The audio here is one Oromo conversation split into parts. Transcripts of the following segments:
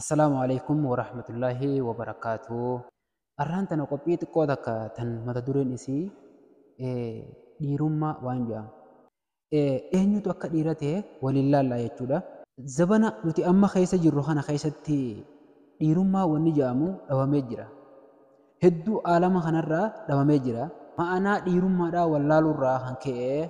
Assalaamu Aleykum Warahmatullaahi Wabarakaatuh Arraan tana qophii xiqqoo takka tan mata dureen isii dhiirummaa waan jedhamu eenyutu akka dhiira ta'e waliin laallaa jechuudha. Zabana nuti amma keessa jirru kana keessatti dhiirummaa wanni jedhamu dhabamee jira. Hedduu aalama kanarraa dhabamee jira. Ma'anaa dhiirummaadhaa wallaaluurraa kan ka'e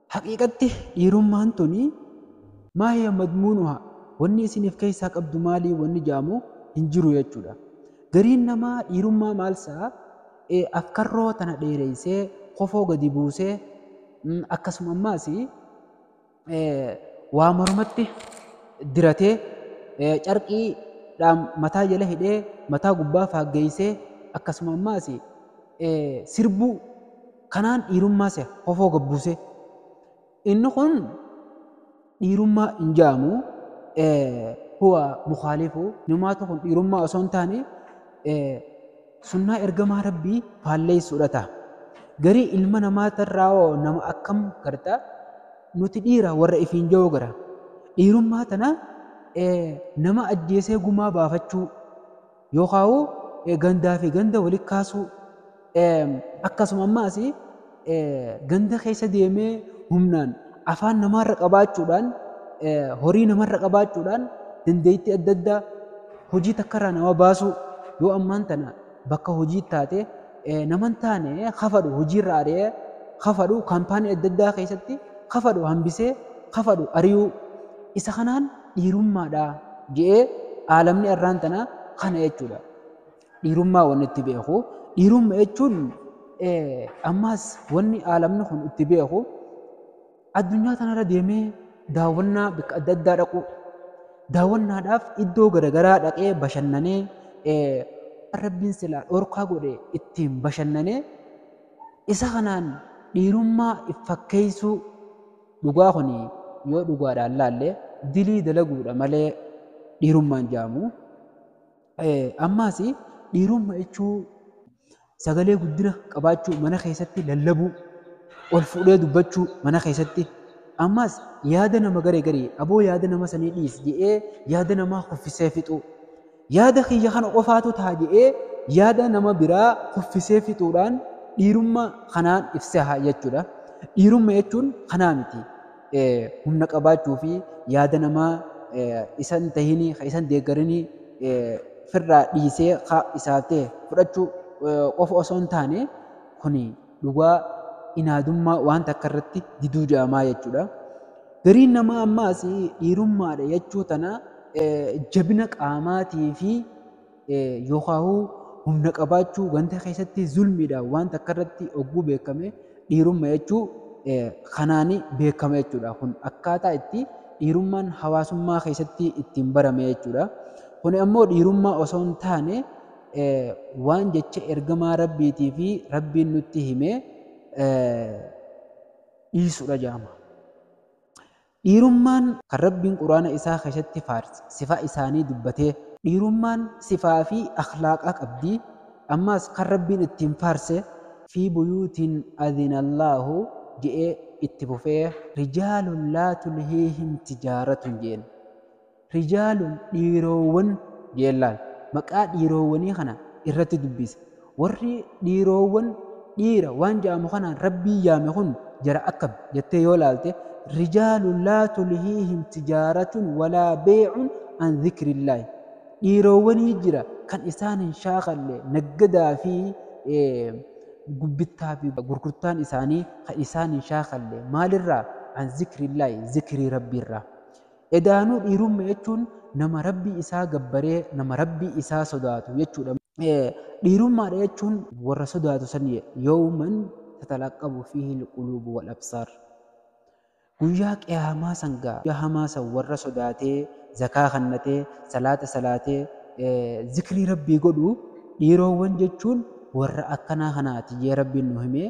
Haqiiqatti dhiirummaan tuni maa hiya madmuunuhaa wanni isiin if keessaa qabdu maalii wanni ja'amu hin jiru jechuudha. Gariin namaa dhiirummaa maal sa, e afkarroo tana dheereessee, kofoo gadi buusee, akkasuma ammaas waa mormatti diratee, carqii dhaan mataa jala hidhee, mataa gubbaa faaggeessee, akkasuma ammaas sirbuu, Kanaan dhiirummaa seha hofoo gad buusee. Inni kun dhiirummaa hin ja'amu. Huwa mukhaalifu. Inumaatu kun dhiirummaa osoo hin taane sunnaa ergamaa Rabbii faalleessuudha ta'a. Garii ilma namaa tarraa hoo nama akkam garta nuti dhiira warra ifiin ja'uu gara. Dhiirummaa tana nama ajjeesee gumaa baafachuu. Yookaa'u gandaa fi ganda walitti kaasuu. Akkasuma ammaas ganda keessa deemee humnaan afaan namaarra qabaachuudhaan horii namarra qabaachuudhaan dandeettii adda addaa hojii takkarraa nama baasuu yoo ammaan tana bakka hojii taate naman taane kafadhu hojiirra ari'ee kafadhu kaampaanii adda addaa keessatti kafadhu hambisee kafadhu ari'uu isa kanaan dhiirummaadha je'ee aalamni arraan tanaa kana jechuudha. Dhiirummaa wanni itti beeku. Dhiirumma jechuun ammaas wanni aalamni kun itti beeku addunyaa tanarra deemee daawwannaa bakka adda addaa dhaquu. Daawwannaadhaaf iddoo garaagaraa dhaqee bashannanee waan rabbiin silaa dhorkaa godhe ittiin bashannanee isa kanaan dhiirummaa fakkeessuu. Dhugaa kuni yoo dhugaadhaan laalle dilii dalaguudha malee dhiirummaan jaamu. Ammaasi dhiirumma jechuu sagalee guddina qabaachuu mana keessatti lallabuu ol fuudhee dubbachuu mana keessatti ammaas yaada nama garee garii aboo yaada nama sanii dhiis jedhee yaada namaa kuffisee fixuu. Yaada kiyya kana qofaatu taha je'ee yaada nama biraa kuffisee fixuudhaan dhiirumma kanaan if seha jechuudha. Dhiirumma jechuun kanaa miti. Humna qabaachuu fi yaada namaa isa hin tahinii, ka isa hin deeggarinii firraa dhiisee ka isaaf tahe fudhachuu qofa osoo hin taane kuni Dhugaa inaadummaa waan takka irratti diduu ja'amaa jechuudha. Gariin namaa ammaas dhiirummaadha jechuu tana jabina qaamaatii fi yookaahuu humna qabaachuu ganda keessatti zulmiidhaan waan takka irratti ogguu beekame dhiirumma jechuu kanaan beekama jechuudha. Kun akkaataa itti dhiirummaan hawaasummaa keessatti ittiin barame jechuudha. Kun ammoo dhiirummaa osoo hin taane waan jecha ergamaa Rabbiitii fi Rabbiin nutti hime dhiisudha jedhama. Dhiirummaan kan Rabbiin Quraana isaa keessatti faarse sifaa isaanii dubbatee dhiirummaan sifaa fi akhlaaqa qabdi. Ammaas kan Rabbiin ittiin faarse fi buyuutiin adinallaahu je'ee itti fufee rijaalun laa tulhiihim tijaaratun jeen. Rijaalun dhiiroowwan Geellaan maqaa dhiiroowwanii kana irratti dubbise. Warri dhiiroowwan dhiira waan ja'amu kanaan Rabbiin yaame kun jara akkami? jettee yoo laalte, Rijaalun laa tulhiihim tijaaratun walaa bey'un an zikrillaahi. Dhiiroowwanii jira kan isaan hin shaakalle naggadaa fi bittaa fi gurgurtaan isaanii kan isaan hin shaakalle. Maalirraa? An zikrillaahi, zikrii Rabbiirraa. Edaanuu dhiirumma jechuun nama Rabbii isaa gabbaree nama Rabbii isaa sodaatu jechuudha. Dhiirummaadha jechuun warra sodaatu san yawman tatalaqqabu fiihi alquluubu wal absaar guyyaa qiyaamaa san gaa guyyaa hamaa san warra sodaatee zakaa kannatee salaata salaatee zikrii rabbii godhu dhiiroowwan jechuun warra akkanaa kanaati jee rabbiin nu himee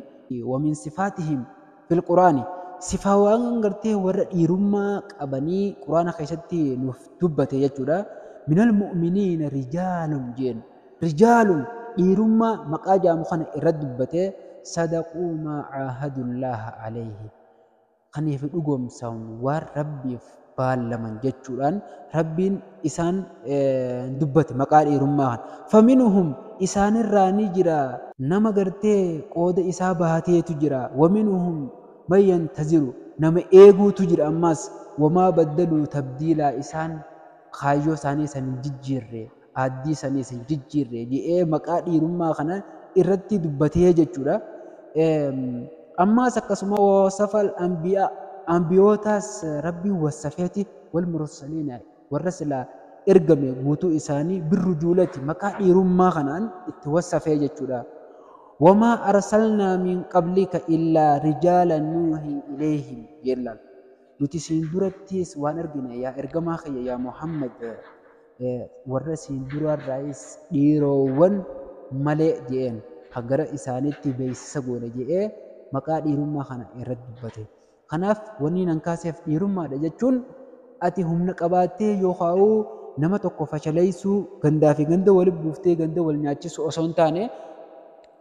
wamin sifaatihim fil quraani sifaawaan gartee warra dhiirummaa qabanii quraana keessatti nuuf dubbate jechuudha minal mu'miniina rijaalun jeen rijaalun dhiirummaa maqaa jaamu kana irra dubbate sadaquu maa caahadullaaha alayhi kaniif dhugoomsan waan rabbiif baallaman jechuudhaan Rabbiin isaan dubbate maqaa dhiirummaa kana. Faminuhum isaanirraa ni jira. Nama gartee qooda isaa bahateetu jira. Waminuhum man yantaziru nama eeguutu jira ammaas. Wamaa baddaluu tabdiilaa isaan kaayyoo isaanii san hin jijjiirre. aaddii saniis hin jijjiirre je'ee maqaa dhiirummaa kana irratti dubbatee jechuudha. Ammaas akkasuma wasafal anbiyaa anbiyootaas rabbiin wasafeeti wal mursaliina warra silaa ergame guutuu isaanii birru juulati maqaa dhiirummaa kanaan itti wasafee jechuudha. Wamaa arsalnaa min qablika illaa rijaala nuuhii ileehim yeellaan. Nuti siin durattiis waan ergine yaa ergamaa kiyya yaa Muhammad Warra siin duraarraayis dhiiroowwan malee je'een ka gara isaaniitti beeysisa goone je'ee maqaa dhiirummaa kana irratti dubbate. Kanaaf wanni nan kaaseef dhiirummaadha jechuun ati humna qabaattee yookaa'uu nama tokko fashaleeysuu, gandaafi ganda wali buuftee ganda wal nyaachisuu osoo hin taane,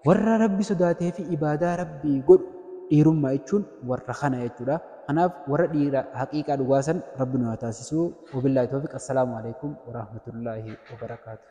Warra Rabbi sodaatee fi ibaadaa Rabbii godhu dhiirummaa jechuun warra kana jechuudha. Kanaaf warra dhiira haqiiqaa dhugaa san Rabbi nu haa taasisuu. Wabillaahi toofiq. Assalaamu aleykum warahmatullaahi wabarakaatuh.